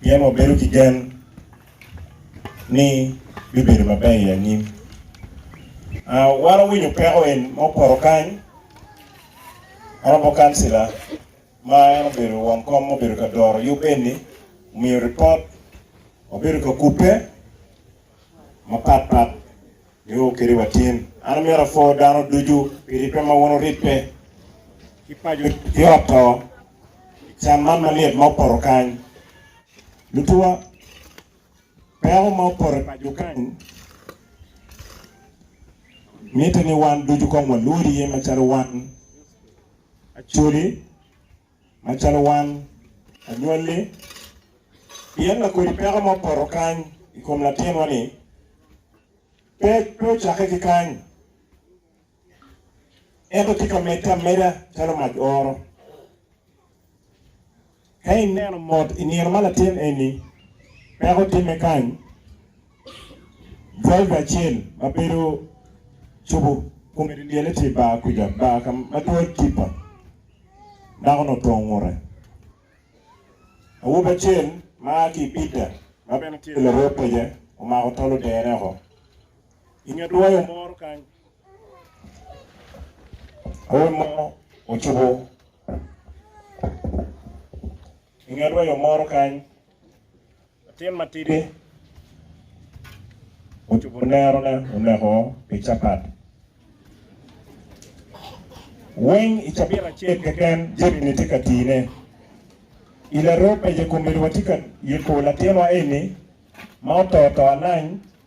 Pien wabedo ki gen ni bibedo maber i anyim. Wan owinyo peko en ma opoto kany, en obo kancila ma en obedo won kom ma obedo ka doro yub eni, omiyo ripot, wabedo ka kubbe, mapat pat nio kede wa tin. An amito apwo dano ducu pi ribbe ma wun wuribbe ki paco ki ot to i can man malyet ma opoto kany. Lutuwa, peko ma opoto i paco kany mitte ni wan ducu kong walwod iye macalo wan, Acholi, Macalo wan, anywalli, pien ma kodi peko mo poto kany i kom latinwa-ni, pe, pe ocakke ki kany, ento tye ka medde ameda calo mac oro. Ka ineno mot i nino ma latin eni peko timme kany, driver acel ma bedo cobo kome dyelyele tye i bar kuca, bar ka ma twol tippa, Dako-nu otongo ngute. Awobi acel ma a ki i Bidda, ma bene tye larwod pece, omako tol odene oko i nge dwoyo moro kany. Awobi mo ocubo. I nget ryo moro kany, latin matidi ocubo nerone oneko pi capat. Weng i cabit acel keken, Jeremy tye ka tine. I laroo pece-komedi watye ka yubo latinwa eni ma oto to alany.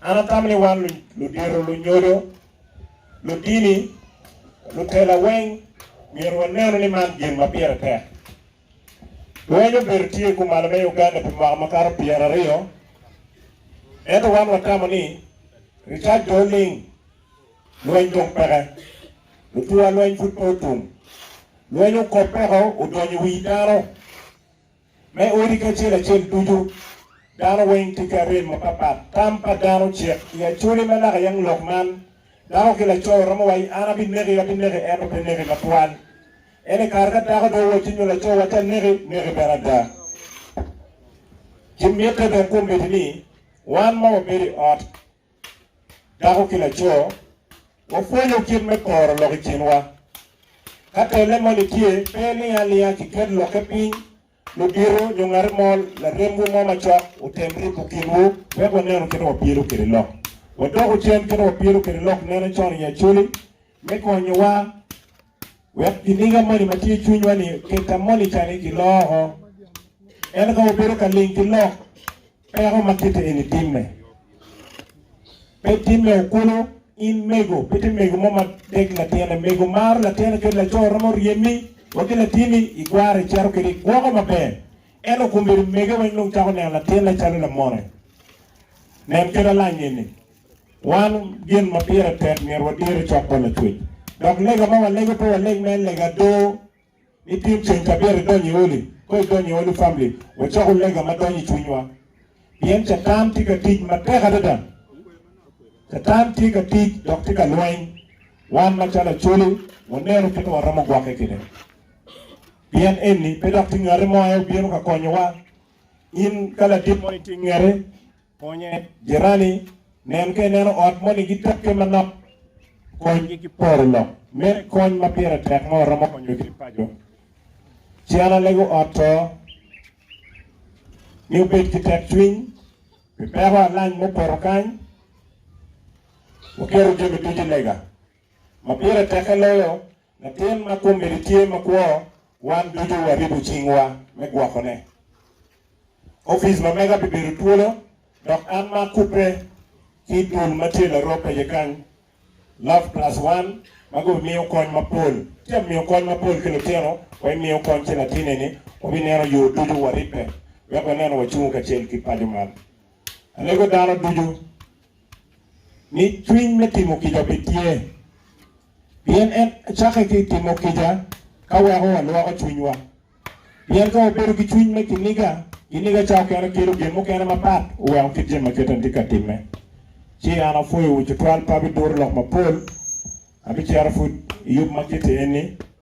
An atamo ni wan ludito, lunyodo, ludini, lutela weng myero wanenu ni man gin ma pire tek. Lweny obedo tye kumalo me Uganda pi mwaka makato pyera aryo, ento wan watamo ni Richard pe oling, lweny dong peke, lutua lweny pud pe otum, lweny okop peko odonyo i wi dano. Me odi ki acel acel ducu, dano weng tye ki arem mapat pat. Tam pa dano cek i Acholi ma naka yang lok man, dako ki laco romo waci an abineki, abineki ento pe neki matwal. Ene kare ka dako dong owacci nyo laco wacci aneki, neki bene ada. Ci mitte bene kombeddi ni wan ma wabedo i ot Dako ki laco, wapwonyo kit me poro lok i kinwa. Ka tenne moni tye, pe iling alinga ki ket lokke piny, ludito nyo ngati mo, laremwu mo macok otem ribo kinwu wek wanenu kite wapyelo kwede lok. Wadoku cen kite wapyelo kwede lok nene con i Acoli me konyowa wek kiniga moni ma tye i cwinywa-ni oketa moni ca-ni kiloko, ento ka wabedo ka ling ki lok peko ma kite eni timme, pe timme o kulu. In mego, pe ti mego mo ma dek latinne. Mego maro latinne kadi laco romo ryemi wa ki latini i kwaro i cito kede i gwoko maber. Ento kun bedo mege weng dong cako neno latinne calo lamone. Nen keda lany eni, Wan gin ma pire tek myero wadir i cok pa lacwec, dok lega ma walego pe waleg me lega adoo. Ni tin ceng cabit idonyo i odi, ka idonyo i odi famili, wacoko lega ma donyo i cwinywa, pien Catan tye ka tic matek adada. Catan tye ka tic dok tye ka lweny. Wan macalo Acholi, waneno kit ma waromo gwokke kwede. Pien eni, pe dok tye ngati mo aye obino ka konyowa. In ka ladit mo itye ngete, Konye, Jirani, nen ka ineno ot moni gitekke manok, konygi ki poro lok mere kony ma pire tek ma waromo konyo ki paco. Cian alego ot to ni obed ki tekcwiny pi peko alany ma opoto kany. Waketo jami ducu i lega. Ma pire tekke loyo, Latin ma komedi tye makwo, wan ducu waribo cingwa me gwokone. Opic ma mega bibedo twolo, dok an ma akubbe ki dul ma tye laroo pece kany, Love Plus One, ma gubimiyo kony mapol. Ci amiyo kony mapol ki lutino, wa imiyo kony ci latin eni wabineno yo ducu waribbe wek waneno wacungo kacel ki paco man. Alego dano ducu. ni cwiny me timo kica pe tye, pien en cakke ki i timo kica ka weko walwoko cwinywa. Pien ka wabedo ki cwiny me kiniga, kiniga ca okene kelo gin mukene mapat oweko kit jami ma kite nitye ka timme. Ci an apwoyowu cutwal pe abiduro lok mapol, abicito pud i yub ma kiti enni.